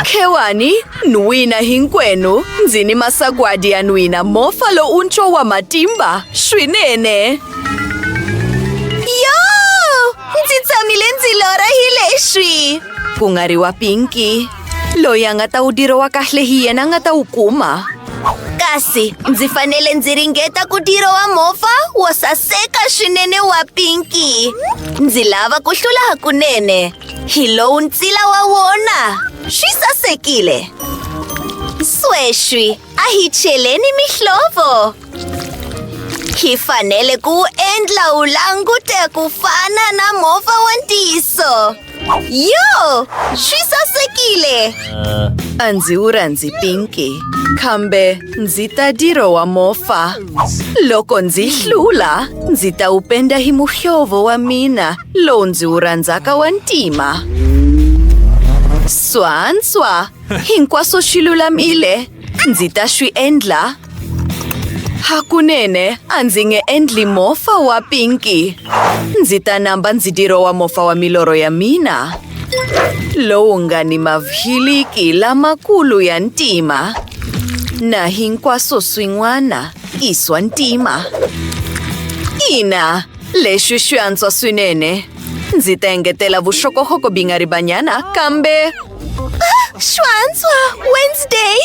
Khewani, Nwina hinkwenu, ndzi ni masagwadi ya nwina mofa lowuntshwa wa matimba swinene. Yo! Ndzi tshamile ndzi lorha hi leswi. Ku nga ri wa Pinky. Loyi a nga ta wu dirha wa kahle hi yena a nga ta wu kuma. Kasi ndzi fanele ndzi ringeta ku dirha wa mofa wo saseka swinene wa Pinky. Ndzi lava ku hlula hakunene. hi lowu ntsila wa wona swi sasekile sweswi a hi cheleni mihlovo hi fanele ku wu endla wu langute ku fana na movha wa ntiyiso yo swi sasekile a ndzi wu rhandzi pinki kambe ndzi ta diro wa mofa loko ndzi hlula ndzi ta wu penda hi muhlovo wa mina Lowu ndzi wu rhandzaka wa ntima. Swantswa, hinkwaswo swi lulamile. Ndzi ta swi endla. Hakunene a ndzi nge endli mofa wa pinki. Ndzi ta namba ndzi dirowa mofa wa milorho ya mina. Lowu nga ni mavhiliki lamakulu ya ntima. Na hinkwaswo swin'wana i swa ntima. Ina! Leswi swi antswa swinene. Ndzi ta engetela vuxokoxoko bingaribanyana kambe. Ah, swi antswa Wednesday.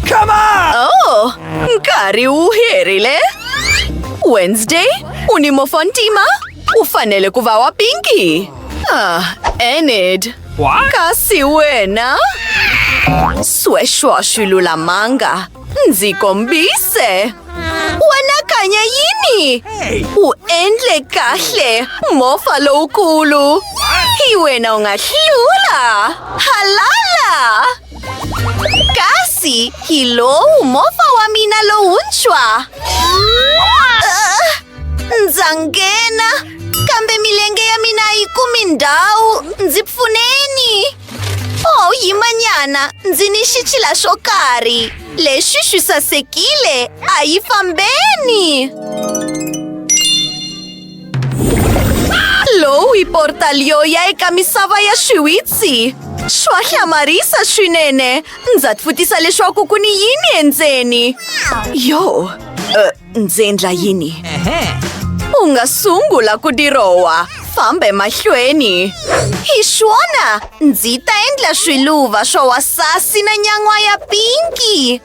Come on! Oh, nkarhi wu herile. Wednesday, u ni mofontima? U fanele ku va wa pinki. Ah, Enid. Kasi wena? Sweswo a swi lulamanga. Ndzi kombise. Wena kanye yini? U endle kahle mofa lowukulu. Hi wena u nga hlula. Halala! Kasi hi lowu mofa wa mina lowuntshwa. Ah, Ndza nghena kambe milenge ya mina a yi kumi ndhawu. Ndzi pfuneni. Oh, yimanyana ndzi ni xichila xo karhi lexi xi sasekile a yi fambeni lowu i portal yo ya eka misava ya swiwitsi swa hlamarisa swinene ndza tfutisa leswaku ku ni yini endzeni yo uh. Ndzi endla yini? U nga sungula ku dirowa. Famba emahlweni. Hi swona, ndzi ta endla swiluva swa wasasi na nyan'wa ya pinki.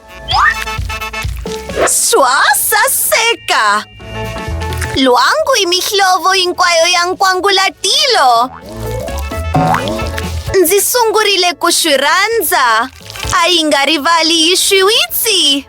Swa saseka! Lwangu i mihlovo hinkwayo ya nkwangulatilo. Ndzi sungurile ku swi rhandza. A yi nga rivali yi swiwitsi.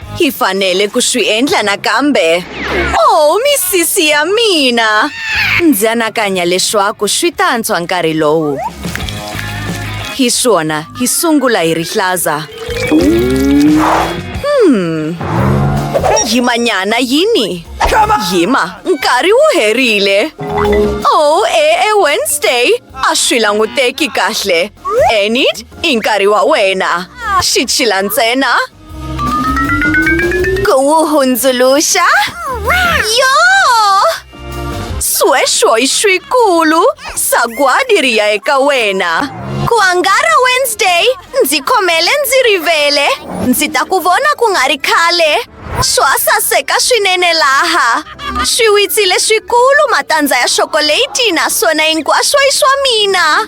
Hi fanele ku swi endla nakambe. Oh, misisi ya mina! Ndzi anakanya leswaku swi ta antswa nkarhi lowu. Hi swona, hi sungula hi rihlaza. Hmm. Yimanyana yini? Yima, nkarhi wu herile. Oh, e, e Wednesday, a swi languteki kahle. Enid, i nkarhi wa wena. Xi chila ntsena. Kuwuhundzuluxa? Yo! Sweswo i swikulu! Sagwadi ri ya eka wena. Ku angara Wednesday, ndzi khomele ndzi rivele. Ndzi ta ku vona ku nga ri khale. Swa saseka swinene laha. Swiwitsi leswikulu, matandza ya xokoleti naswona hinkwaswo i swa mina.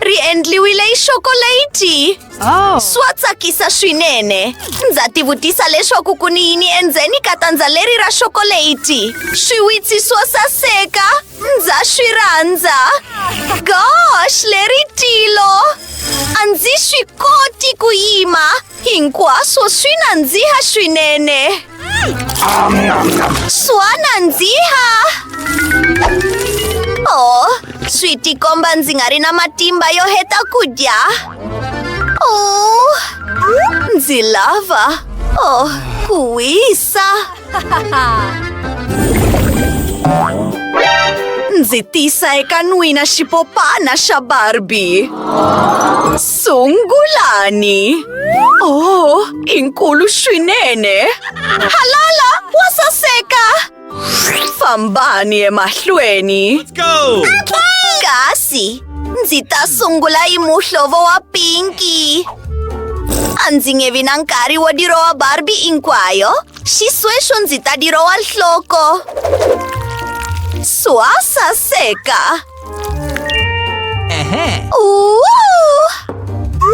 Ri endliwile hi xokolayiti. Oh. Swa tsakisa swinene. Ndza tivutisa leswaku ku ni yini endzeni ka tandza leri ra xokolayiti. Swiwitsi swo saseka. Ndza swi rhandza. Gosh, leri tilo. A ndzi swi koti ku yima. hinkwaswo swi nandziha swinene swa nandziha o swi tikomba ndzi nga ri na matimba yo heta ku dya o ndzi lava o ku wisa Ndzi tisa eka n'wina xipopana xa Barbie. Sungulani. Oh, i nkulu swinene. Halala, wa saseka. Fambani emahlweni. Kasi. Ndzi ta sungula hi muhlovo wa pinki. A ndzi nge vi na nkarhi wo dirowa Barbie hinkwayo. Xisweswo ndzi ta dirowa nhloko. Swa saseka.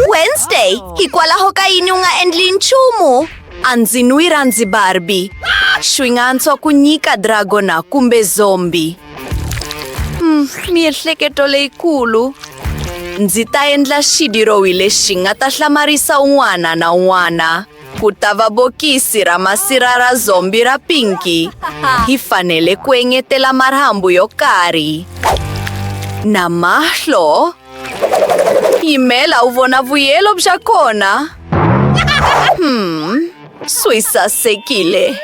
Wednesday, hikwalaho ka yini u nga endli nchumu? A ndzi n'wi rhandzi Barbie. Swi nga antswa ku nyika dragona kumbe zombie. Hmm, miehleketo leyikulu ndzi ta endla xidirohi lexi nga ta hlamarisa un'wana na un'wana ku ta va bokisi ra masira ra zombi ra pinki hi fanele ku engetela marhambu yo karhi na mahlo yimela u vona vuyelo bya kona hmm. Soe sasekile.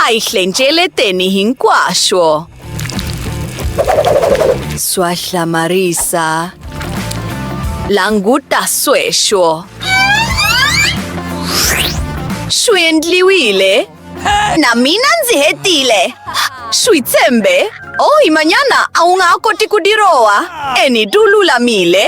Aihlentshele teni hinkwaswo. Swa hlamarisa. Languta sweswo. Swi endliwile. Na mina ndzi hetile. Swi tshembe. Oh, imanyana a wu nga ha koti ku dirowa. Eni, du lulamile.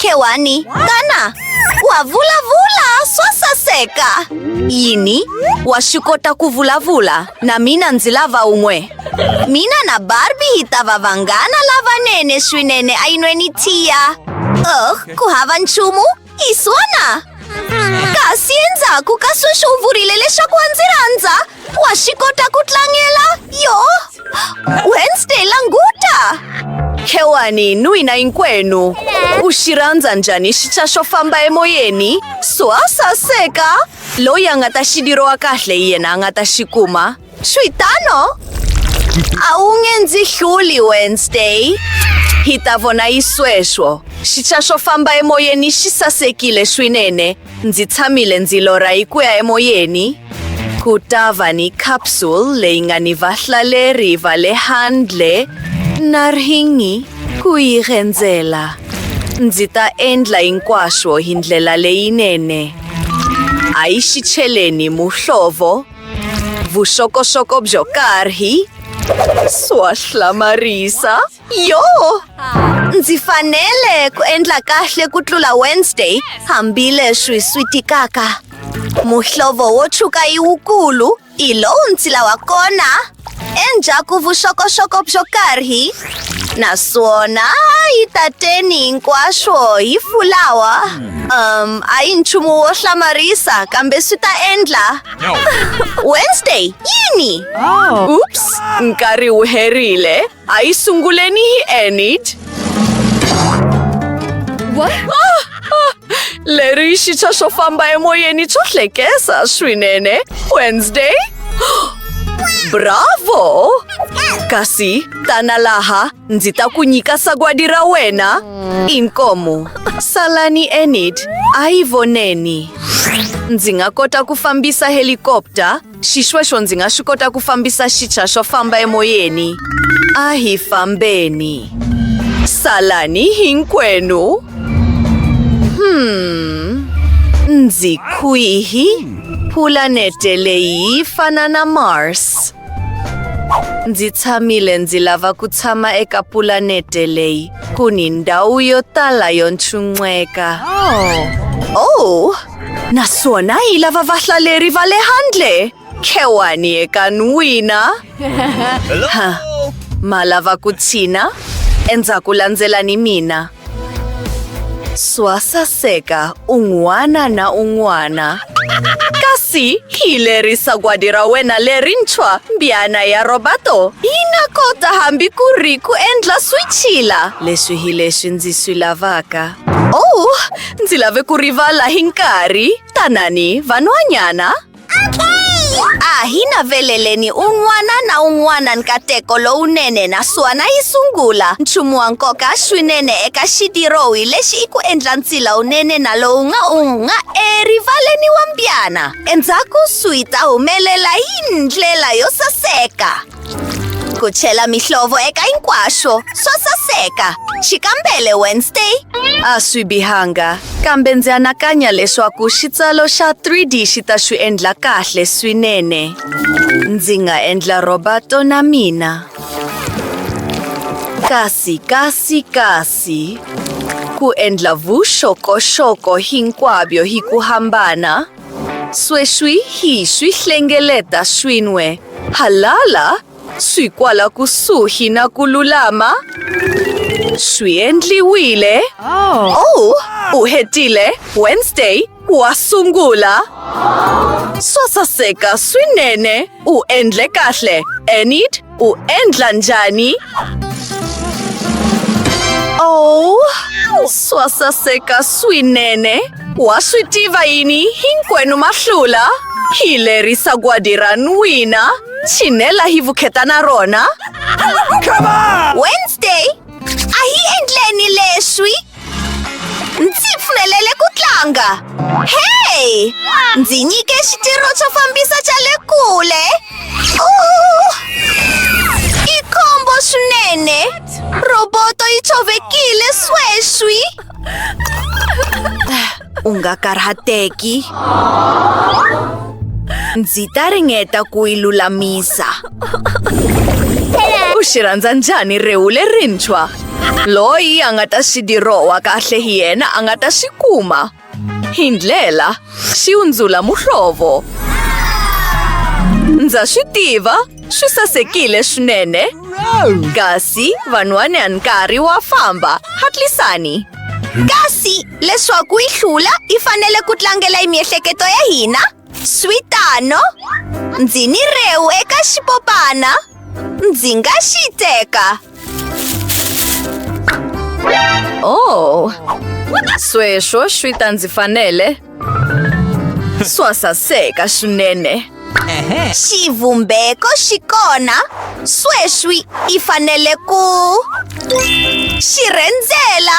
Ke wani? Kana? Wa vula vula swasa seka. Yini? Wa shikota ku vula vula na mina ndzi lava un'we. Mina na Barbie hi ta va vanghana lavanene swinene a yinweni tiya. Oh, ku hava nchumu? Hi swona. Kasi endzhaku ka sweswo u vurile leswaku wa ndzi rhandza. Wa swi kota ku tlangela yo Wednesday languta khewani n'wina hinkwenu u xi rhandza njhani xica xo famba emoyeni swa saseka loyi a nga ta xi liriwa kahle hi yena a nga ta xi kuma swi tano a wu nge ndzi hluli Wednesday hi ta vona yi sweswo xica xo famba emoyeni xi sasekile swinene Ndzi tshamile ndzi lorha hi ku ya emoyeni, ku ta va ni capsule leyi nga ni vahlaleri va le handle na rhingi ku yi rhendzela. Ndzi ta endla hinkwaswo hi ndlela leyinene. A yi xi cheleni muhlovo, vuxokoxoko byo karhi, swa hlamarisa. Yo! Ndzi fanele ku endla kahle ku tlula Wednesday hambileswi swi tikaka. Muhlovo wo tshuka yi wukulu hi lowu ndzi lawa kona endzhaku vuxokoxoko byo karhi naswona yi tateni hinkwaswo hi fulawa um a yi nchumu wo hlamarisa kambe swi ta endla Wednesday yini? Oops, nkarhi wu herile. A yi sunguleni hi Enid. What? Ah, ah, leri xitshwa swo famba emoyeni swo hlekesa swinene. Wednesday? Bravo! Kasi tana laha ndzi ta ku nyika sagwadi ra wena. Inkomu. Salani Enid, a yi voneni. Ndzi nga kota ku fambisa helikopta Xisweswo ndzi nga swi kota ku fambisa xicha xo famba emoyeni. A hi fambeni. Salani hinkwenu. Hmm. Ndzi kwihi? Pulanete leyi yi fana na Mars. Ndzi tshamile ndzi lava ku tshama eka pulanete leyi ku ni ndhawu yo tala yo ntshunxeka. Oh. Naswona hi lava vahlaleri va le handle. Khewani eka n'wina. Ha, ma lava ku tshina? Endzhaku landzelani mina. Swasaseka un'wana na un'wana. Kasi hi lerisa gwadi ra wena lerintshwa, mbyana ya Roberto. Yi nga kota hambi ku ri ku endla swichila. Leswi hi leswi ndzi swi lavaka. Oh, Ndzi lave ku rivala hi nkarhi. Tanani, vanhwanyana. A hi naveleleni un'wana na un'wana nkateko lowunene naswona yi sungula. Nchumu wa nkoka swinene eka xidirohi lexi i ku endla ntila wunene na lowu nga u nga erivaleni wa mbyana. Endzhaku swi ta humelela hi ndlela yo saseka. ku chela mihlovo eka hinkwaswo swa saseka xikambele wednesday a swi bihanga kambe ndzi anakanya leswaku xitsalo xa 3d xi ta swi endla kahle swinene ndzi nga endla robato na mina kasi kasi kasi ku endla vuxokoxoko hinkwabyo hi ku hambana Sweswi hi swi hlengeleta swin'we. Halala, swi kwala kusuhi na ku lulama. Swi endliwile. Oh, u hetile. Wednesday wa sungula. Swa saseka swinene. U endle kahle. Enid U endla njhani? Oh, swa saseka swinene. Wa swi tiva yini hinkwenu ma hlula? Hi lerisa gwadi ra n'wina, tshinela hi vukheta na rona. Wednesday, a hi endleni leswi. Ndzi pfumelele ku tlanga hey ndzi nyike xitirho xo fambisa xa le kule i khombo swinene roboto yi tshovekile sweswi u nga karhateki ndzi ta ringeta ku yi lulamisa u xi rhandza njhani rewu lerintshwa loyi a nga ta xi dirowa kahle hi yena a nga ta xi kuma hi ndlela xi hundzula muhlovo ndza swi tiva swi sasekile swinene kasi van'wani a nkarhi wa famba hatlisani kasi leswaku yi hlula yi fanele ku tlangela hi miehleketo ya hina swi tano ndzi ni rewu eka xipopana ndzi nga xi teka oh sweswo swi ta ndzi fanele swa saseka swinene xivumbeko xi kona sweswi i fanele ku xi rhendzela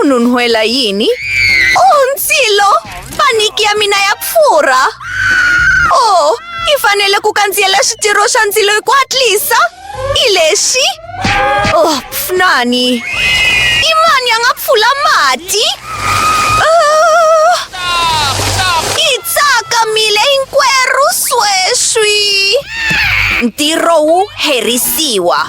Ununhwela yini? Oh, ndzilo! Paniki ya mina ya pfurha! Oh, i fanele ku kandziyela switirho swa ndzilo hi ku hatlisa! I lexi? Oh, pfunani! I mani a nga pfula mati? Oh, i tsakamile hinkwerhu sweswi! Ntirho wu herisiwa.